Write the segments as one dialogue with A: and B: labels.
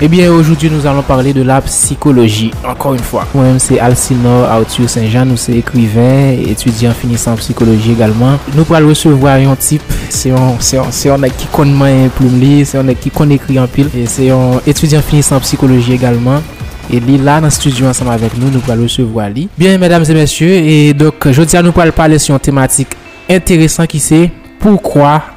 A: Ebyen ojoudwi nous allons parler de la psychologie encore une fois. Mwen menm se Alcinor Arthur Saint Jean nou se ekriven, etidyan finisan an psikoloji egalman. Nou pral resevwa yon tip, se yon se yon se yon nèg ki konn manyen plim li, se yon nèg ki konn ekri anpil, se yon etidyan finisan an psikoloji egalman e li la nan stidyo ansanm avèk nou, nou pral resevwa li. Byen mèdames e mèsye, e donk jodi a nou pral pale sou yon tematik enteresan ki se, Poukwa?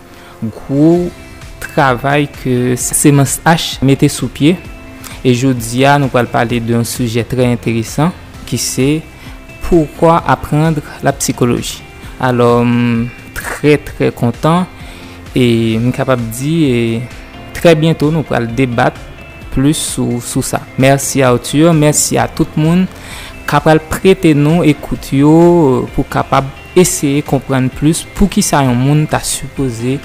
B: Gwo travay ke Semans H mete sou pye e jodi a nou pral pale de yon sijè trè enteresan ki se Pourquoi apprendre la psychologie? Alò m trè trè kontan e m kapab di trè byento nou pral debat plis sou sa. Mèsi Arthur, mèsi a tout moun ka pral prete nou ekout yo pou kapab eseye konprann plis poukisa yon moun ta sipoze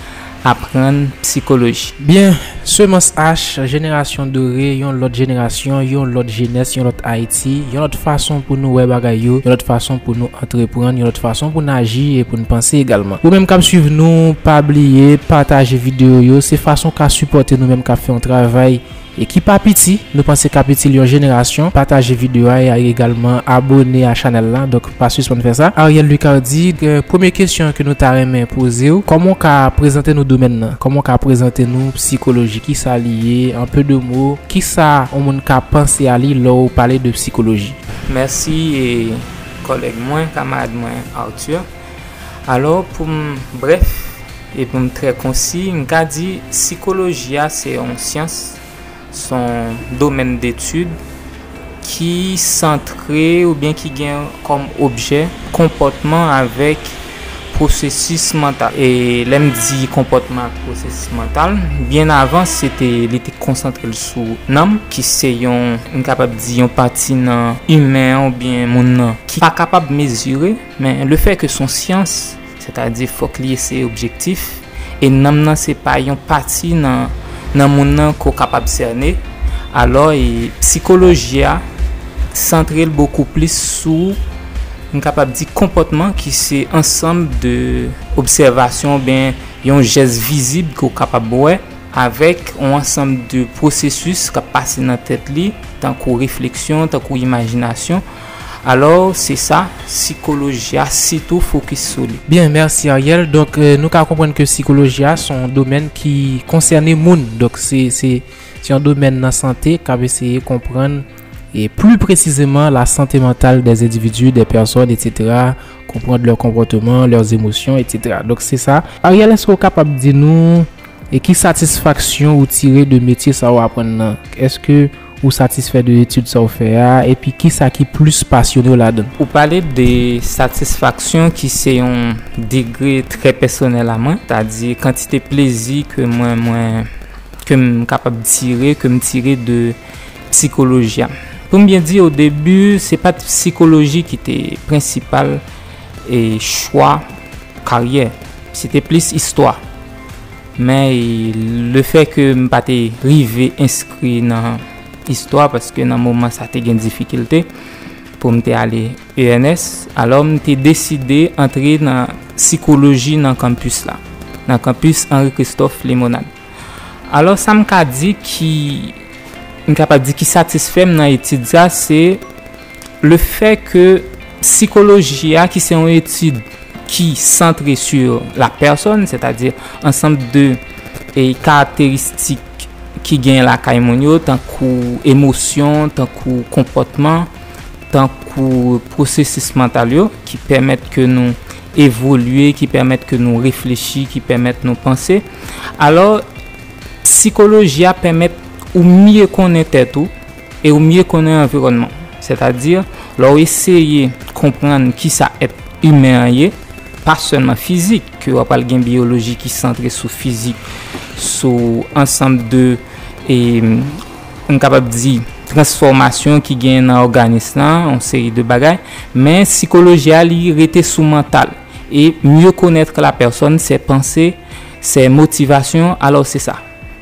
B: aprann psikoloji. Byen,
A: Semans Ash, Jenerasyon Dore, Yon Lòt Jenerasyon, Yon Lòt Jenès, Yon Lòt Ayiti, Yon Lòt Fason pou nou wè bagay yo, Yon Lòt Fason pou nou antreprann, Yon Lòt Fason pou n aji e pou n panse egalman. Ou menm k ap swiv nou, pa bliye pataje videyo yo, se fason w ka sipòte nou menm k ap fè yon travay E ki pa piti, nou panse kap itil yon jenerasyon, pataje video a e egalman abone a chanèl la, donk pa sispann fè sa. Ariel Lucardi, Premye kesyon ke nou ta renmen pozew, kòman w ka prezante nou domèn nan? Kòman w ka prezante nou psikoloji? Kisa li ye? En peu de mots, kisa yon moun ka panse a li lè w pale de psikoloji? Mèsi
B: kòlèg mwen, kamarad mwen Arthur. Alò, pou m brèf e pou m trè konsi, m ka di sikoloji a se yon syans, s on domèn detid ki santre oubyen ki gen kòm objè konpòtman avèk pwosesis mantal. E lè m di konpòtman ak pwosesis mantal, byen avan se te li te konsantre l sou nanm ki se yon, m kapab di yon pati nan imen an oubyen moun nan ki pa kapab mezire. Men le fè ke son syans, sètadi fòk li eseye objektif, e nanm nan se pa yon pati nan moun nan ke w kapab sène, alò e psikoloji a santre l bokou plis sou, m kapab di konpòtman ki se ansanm de obsèvasyon oubyen yon jès vizib ke w kapab wè, avèk yon ansanm de pwosesis k ap pase nan tèt li, tankou refleksyon, tankou imajinasyon. Alò se sa sikoloji a sitou fokis sou li. Byen, mèsi Ariel.
A: Donk nou ka konprann ke sikoloji a se yon domèn ki konsène moun. Donk se yon domèn nan sante k ap eseye konprann e pli presizeman la sante mantal de endividi, de pèsòn, etsetera, konprann lè konpòteman, lè emosyon, etsetera. Donk se sa. Ariel, èske ou kapab di nou e ki satisfaksyon ou tire de metye sa ou aprann nan? Èske. Ou satisfè de etid sa w fè a, epi kisa ki plis pasyone w ladan l? Ou pale de
B: satisfaksyon ki se yon degre trè pèsonèl a mwen, ta di kantite plezi ke mwen, mwen, ke m kapab tire, ke m tire de psikoloji a. Pou m byen di, o debi, se pa t psikoloji ki te prensipal chwa karyè, se te plis istwa. Men le fè ke m pa te rive enskri nan istwa paske nan moman sa te gen difikilte pou m te ale ENS, alò m te deside antre nan sikoloji nan kanpis la, nan kanpis Henri Christophe Limonad. Alò sa m ka di ki, m kapab di ki satisfè m nan etid sa se, Le fè ke sikoloji a ki se yon etid ki santre su la pèsòn, sètadi ansanm de karakteristik ki genyen lakay moun yo, tankou emosyon, tankou konpòtman, tankou pwosesis mantal yo, ki pèmèt ke nou evolye, ki pèmèt ke nou reflechi, ki pèmèt nou panse. Alò, sikoloji a pèmèt ou mye konnen tèt ou. e ou mye konnen anviwònman w. Sètadi, lè w eseye konprann ki sa èt imen an ye, pa sèlman fizik, ke w ap pral gen biyoloji ki santre sou fizik, sou ansanm de, m kapab di, transfòmasyon ki genyen nan òganis la, yon seri de bagay, men sikoloji a li rete sou mantal. E mye konètre la pèsòn, sè panse, sè motivasyon, alò se sa.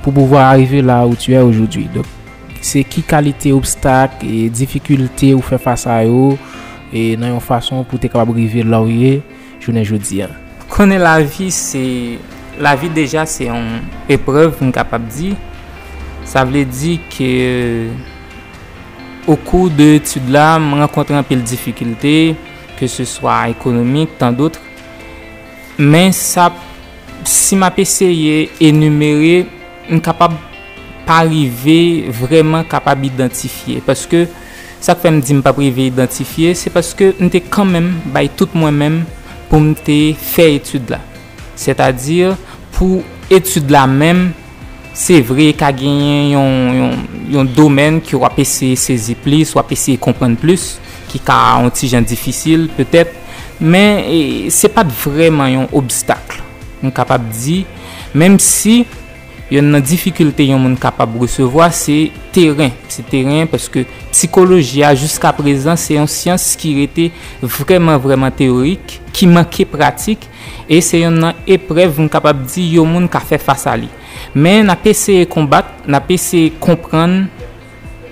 A: pou pouvwa arive la ou tu è ojoudwi. Donk, se ki kalite obstak e difikilte ou fè fas a yo e nan yon fason pou te kapab rive la ou ye jounen jodi a? Konnen lavi
B: se, lavi deja se yon eprèv m kapab di. Sa vle di ke okou de etid la m rankontre anpil difikilte, ke se swa ekonomik, tan dotre. Men sa p, si m ap eseye enimere, m kapab pa rive vrèman kapab idantifye. Paske, sa k fè m di m pa p rive idantifye, se paske m te kanmenm bay tout mwen menm pou m te fè etid la. Sètadi, pou etid la menm. Se vre, ka genyen yon domèn ke w ap eseye sezi plis, w ap eseye konprann plis, ki ka yon ti jan difisil, petèt, men, se pa t vrèman yon obstak, m kapab di, menm si, yonn nan difikilte yon moun kapab resevwa, se teren, se teren, paske psikoloji a, jiska prezan, se yon syans ki rete vrèman, vrèman teyorik, ki manke pratik, e se yonn nan eprèv m kapab di yon moun ka fè fas a li. Men n ap eseye konbat, n ap eseye konprann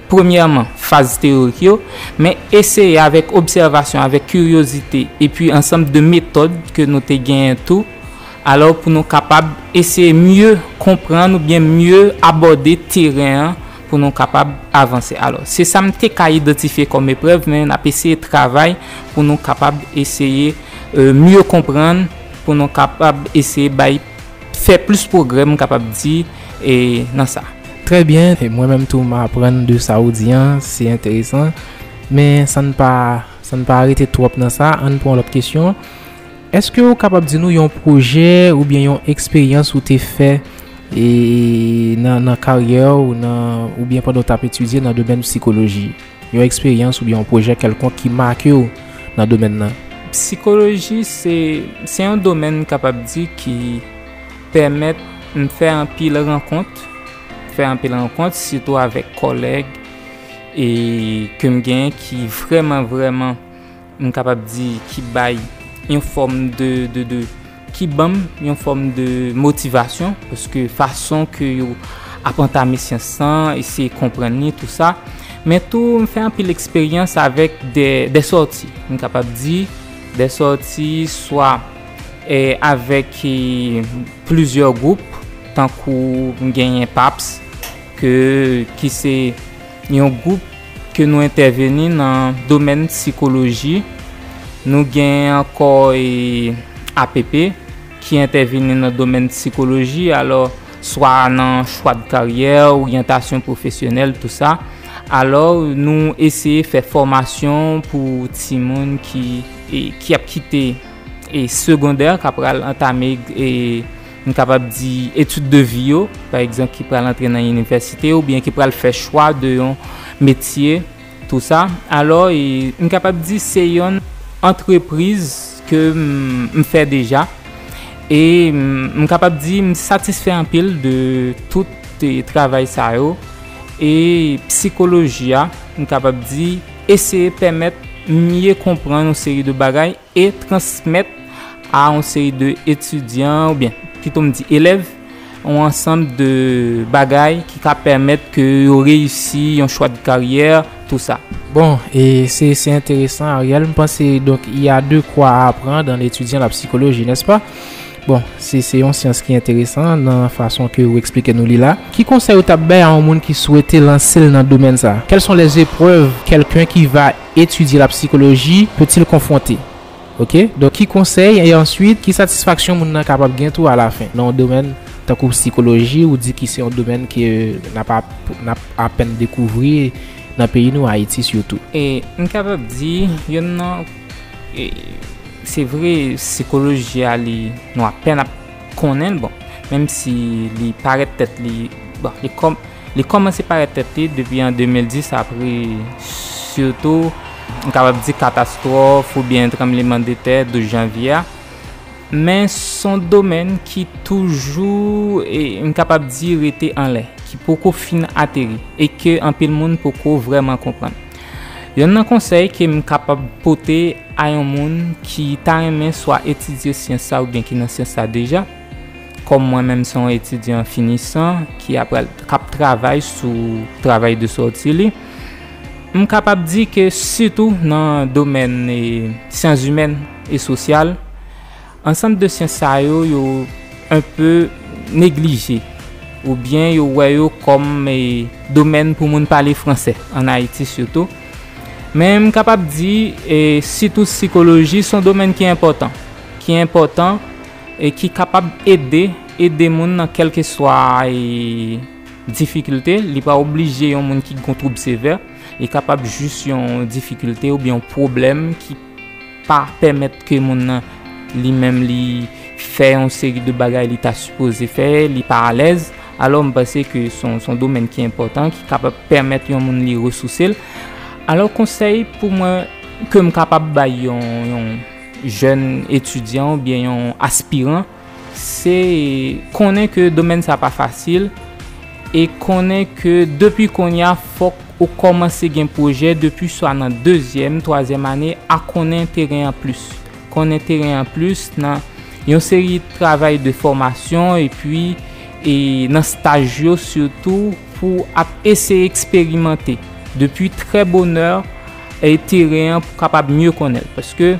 B: premyèman faz teyorik yo, men eseye avèk obsèvasyon, avèk kiryozite epi ansanm de metòd ke nou te genyen tou, alò pou nou kapab eseye mye konprann oubyen mye abòde teren an, pou nou kapab avanse. Alò, se sa m te ka idantifye kòm eprèv, men n ap eseye travay pou nou kapab eseye mye konprann, pou nou kapab eseye bay, fè plis pwogrè m kapab di nan sa. Trè byen,
A: mwen menm tou m aprann de sa ou di an, se enteresan. Men san n pa rete twòp nan sa, an n pran lòt kesyon. Eske ou kapab di nou yon pwojè oubyen yon eksperyans ou te fè e nan karyè ou nan oubyen pandan ou tap etidye nan domèn psikoloji? Yon eksperyans oubyen yon pwojè kèlkonk ki make ou nan domèn nan? Psikoloji
B: se se yon domèn m kapab di ki pèmèt m fè anpil rankont, fè anpil rankont sitou avèk kòlèg e ke m gen ki vrèman vrèman m kapab di ki bay yon fòm de, de, de, ki ban m yon fòm de motivasyon, paske fason ke yo ap antame syans lan, eseye konprann li, tou sa, men tou m fè anpil eksperyans avèk de, de sòti, m kapab di, de sòti swa e avèk e plizyè gwoup, tankou m genyen PAPS, ke, ki se yon gwoup. ke nou entèveni nan domèn sikoloji, nou gen ankò e app ki entèveni nan domèn sikoloji alò swa nan chwa de karyè, oryantasyon pwofesyonèl tou sa, alò nou eseye fè fòmasyon pou timoun ki ap kite segondè kap pral antame. m kapab di etid de vi yo, pa egzanp ki pral antre nan inivèsite ou byen ki pral fè chwa de yon metye tou sa. Alò e m kapab di se yon antrepriz ke m fè deja e m kapab di m satisfè anpil de tout travay sa yo e psikoloji a m kapab di eseye pèmèt m mye konprann yon seri de bagay. e transmèt a yon seri de etidyan ou byen pito m di elèv yon ansanm de bagay ki ka pèmèt ke yo reyisi yon chwa de karyè tou sa. Bon e
A: se se enteresan Ariel m panse donk y a de kwa a apran dan etidyan la psikoloji nèspa? Bon se se yon syans ki enteresan nan fason ke ou eksplike nou li la. Ki konsèy ou ta bay a yon moun ki swete lanse l nan domèn sa? Kèl son lè zeprèv kèlken ki va. etidye la psikoloji peut il konfwonte ok donk ki konsèy e answit ki satisfaksyon moun nan kapab gen tou alafen nan yon domèn tankou psikoloji ou di ki se yon domèn ke nap nap apèn dekouvri nan peyi nou ayiti sitou. E m kapab
B: di yonn nan e se vre psikoloji a li nou apèn ap konnen l bon menm si li parèt tèt li bon li kòm Li kòmanse parèt tèt li depi an 2010 apre sitou m kapab di katastwòf oubyen tranbleman de tè 12 janvye a. Men son domèn ki toujou e m kapab di rete anlè, ki poko fin ateri e ke anpil moun poko vrèman konprann. Yonn nan konsèy ke m kapab pote a yon moun ki ta renmen swa etidye syans sa oubyen ki nan syans sa deja, Kòm mwen menm se yon etidyan finisan ki ap pral k ap travay sou travay de sòti li, m kapab di ke sitou nan domèn syanzimèn e sosyal, ansanm de syans sa yo, yo enpe neglije oubyen yo wè yo kòm domèn pou moun pale franse, ann Ayiti sitou. Men m kapab di sitou sikoloji se yon domèn ki enpòtan, ki enpòtan. e ki kapab ede ede moun nan kèlkeswa difikilte, li pa oblije yon moun ki gen twoub sevè, li kapab jis yon difikilte oubyen yon pwoblèm ki pa pèmèt ke moun nan li menm li fè yon seri de bagay li ta sipoze fè, li pa alèz, alò m panse ke son domèn ki enpòtan ki kapab pèmèt yon moun li resouse l. Alò konsèy pou mwen ke m kapab bay yon. jèn etidyan ou byen yon aspiran, se konnen ke domèn sa pa fasil, e konnen ke depi konya fòk ou kòmanse gen pwojè depi swa nan dezyèm, twazyèm ane a konnen teren an plis. Konnen teren an plis nan yon seri travay de fòmasyon epi nan staj yo sitou. pou w ap eseye eksperimante depi trè bonè teren an pou w kapab mye konnen l. Paske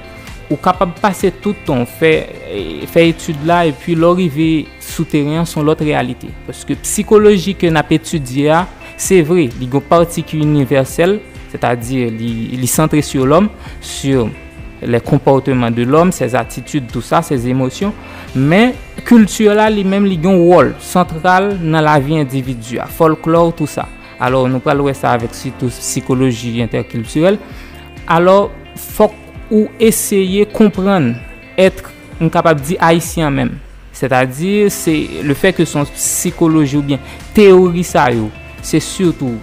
B: ou kapab pase tout tan w fè etid la epi lè w rive sou teren an son lòt reyalite. Paske psikoloji ke n ap etidye a, se vre li gen yon pati ki inivèsèl, sètadi li santre sou lòm, sou lè konpòteman de lòm, sè zatitid tou sa, sè zemosyon, Men, kilti la li menm li gen yon wòl santral nan lavi endividi a, fòlklò tou sa. Alò, nou pral wè sa avèk sitou sikoloji entèkiltirèl. Alò, fòk ou eseye konprann èt, m kapab di ayisyen an menm. Sètadi, se le fè ke son sikoloji oubyen teyori sa yo, se sitou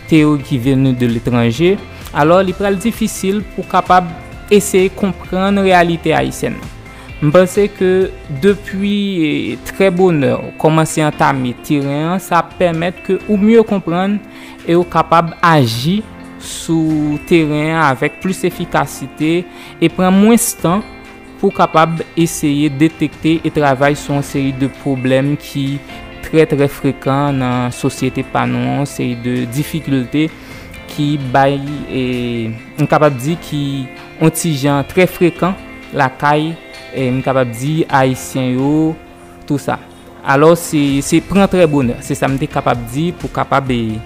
B: teyori ki venu de letranje, alò li pral difisil pou kapab eseye konprann reyalite ayisyèn nan. M panse ke depi trè bonè ou kòmanse antame teren an, sa ap pèmèt ke ou mye konprann e ou kapab aji sou teren an avèk plis efikasite e pran mwens tan pou kapab eseye detekte e travay sou yon seri de pwoblèm ki trè trè frekan nan sosyete pa nou an, yon seri de difikilte ki bay, m kapab di ki. On ti jan trè frekan lakay m kapab di Ayisyen yo tou sa. Alò se se pran trè bonè. Se sa m te kapab di pou kapab e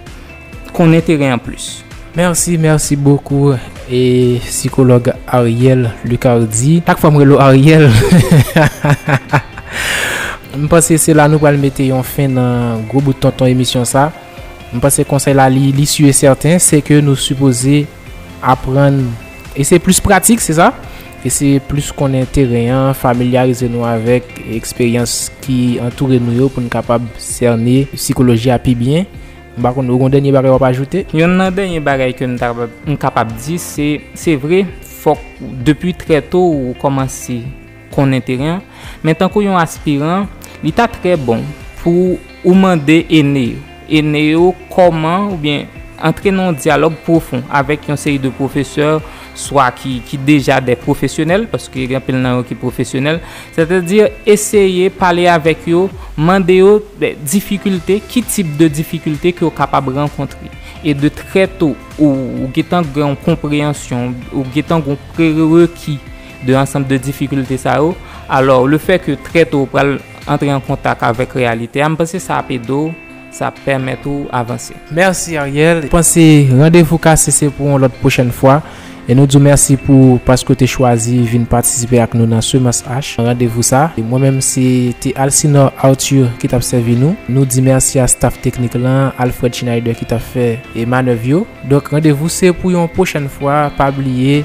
B: konnen teren an plis. Merci merci
A: beaucoup e psychologue Ariel Lucardi chak fwa m rele w Ariel m panse se la nou pral mete yon fen nan gwo bout tonton emisyon sa m panse konsèy la li li sur et certain se ke nou sipoze Aprann eseye plis pratik, se sa? Eseye plis konnen teren an, familyarize nou avèk eksperyans ki antoure nou yo pou n kapab sène sikoloji a pi byen. M pa konn, ou gen dènye bagay w ap ajoute? Yonn nan dènye bagay
B: ke m ta m kapab di se, se vre fòk depi trè to ou kòmanse. konnen teren an, men tankou yon aspiran, li ta trè bon pou ou mande ene yo, ene yo kòman oubyen antre nan yon dyalòg pwofon avèk yon seri de pwofesè swa ki deja dè pwofesyonèl, paske gen anpil nan yo ki pwofesyonèl, sètadi eseye pale avèk yo, mande yo difikilte, ki tip de difikilte ke yo kapab rankontre. E de trè to, ou gen tan gen yon konpreyansyon, ou gen tan gen yon prerereki de ansanm de difikilte sa yo, alò le fè ke trè to ou pral antre an kontak avèk reyalite a, m panse sa ap ede w, sa ap pèmèt ou avanse. Merci Ariel,
A: m panse randevou kase se pou yon lòt pwochèn fwa, e nou di w mèsi pou paske w te chwazi vin patisipe ak nou nan Semans H nan randevou sa. Mwen menm se te Alcinor Arthur ki t ap sèvi nou, nou di mèsi a staf teknik lan, Alfred Schneider ki t ap fè manèv yo. Donk randevou se pou yon pwochèn fwa, pa bliye.